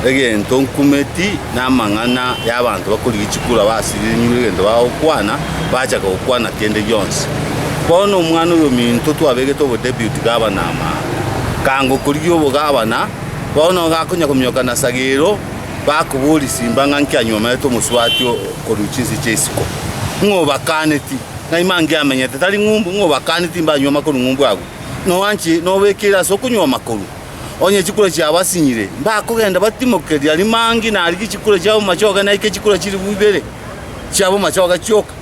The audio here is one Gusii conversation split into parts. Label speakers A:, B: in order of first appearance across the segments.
A: egento nkumeti namang'ana y'abanto bakorigia chikura basirinywe egento bagokwana, bachaka gokwana kende gionsi. Bono omwana oyominto twabegete obodeputy gavana amang'a, kanga okorigia obogavana, bono gakonya kominyoka na sagero, bakoboria simba ng'a nki anyomerete omosubati korwa chinse chia isiko, ng'a obakaneti ng'a ime ange amenyete tari ng'umbu, ng'a obakaneti mbanywoma korwa ng'umbu agwo, noanche nobekire ase okonyuoma korwa. onye chikure chiabo asinyire, mbakogenda batimoke riria rimangi narigie chikure chiabo momachoge naike chikure chilifu ibere chiabo momachoge chioka,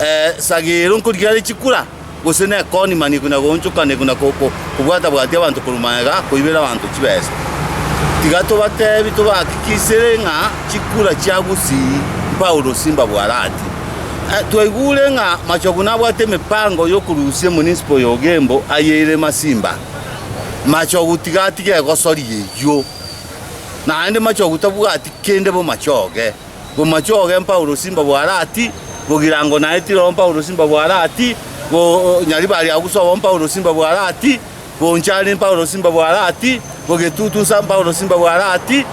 A: eh, sagero nkorigia are chikura, gose nekoni mani na goonchokania na ko- ko- kobwata-bwatia abanto korwa magega koibera abanto chibesa. Tiga tobatebi tobahakikisere ng'a chikura chia gusii Paulo simbabwarati. Eh, twaigure ng'a Machogu nabwate emepango y'okorusia Munisipo y'Ogembo aye ere Masimba. machoguti gati gegosoria eyio, naende machogu tabwati kende bomachoge, bomachoge Paulo simba bwarati, bogirango naye tirobo Paulo simba bwarati, bo nyari bari agwo sobo Paulo simba bwarati, bonchari Paulo simba bwarati, bogetutu nsa Paulo simba bwarati,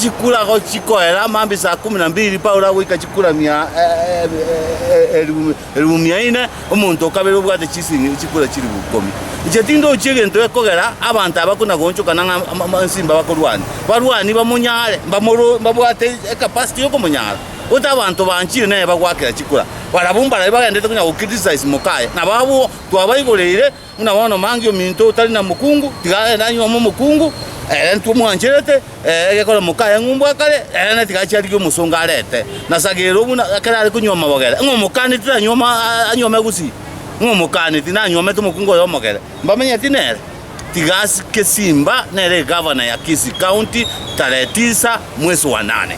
A: chikura gochikoera mambia saa kumi na mbiri Paulo agoika chikura mia e- e- e- e- eribu Eribu mia ine, omonto o kabere obwate chisiringi chikura chiribu ikomi. Inche tindochia egento gekogera abanto aba kona goonchokana ng'a inse mbabakorwania. Barwani bamonyare, mbamoro, mbabwate ecapacity y'okomonyara. Gose abanto banchire nere bagoakera chikura, barabwo mbaria bagenderete konya gocriticize moka aye, nabo abwo twabaigoreire. Buna bono mange ominto otari na mokungu, tiga agende anywe amo omokungu, ere ntwomwancherete, ee, egekore moka aye ng'umbu akare, ere naye tiga achie arigie omosongo arete. Na sagera obuna ekero are konywa amabogere, ng'a omokaneti tanywa ama anywe amagusii, ng'a omokaneti nanywomete omokungu oye omogere, mbamenyeti nere. Tiga asike Simba, nere egavana ya Kisii County, tarehe tisa, mwesi wa nane.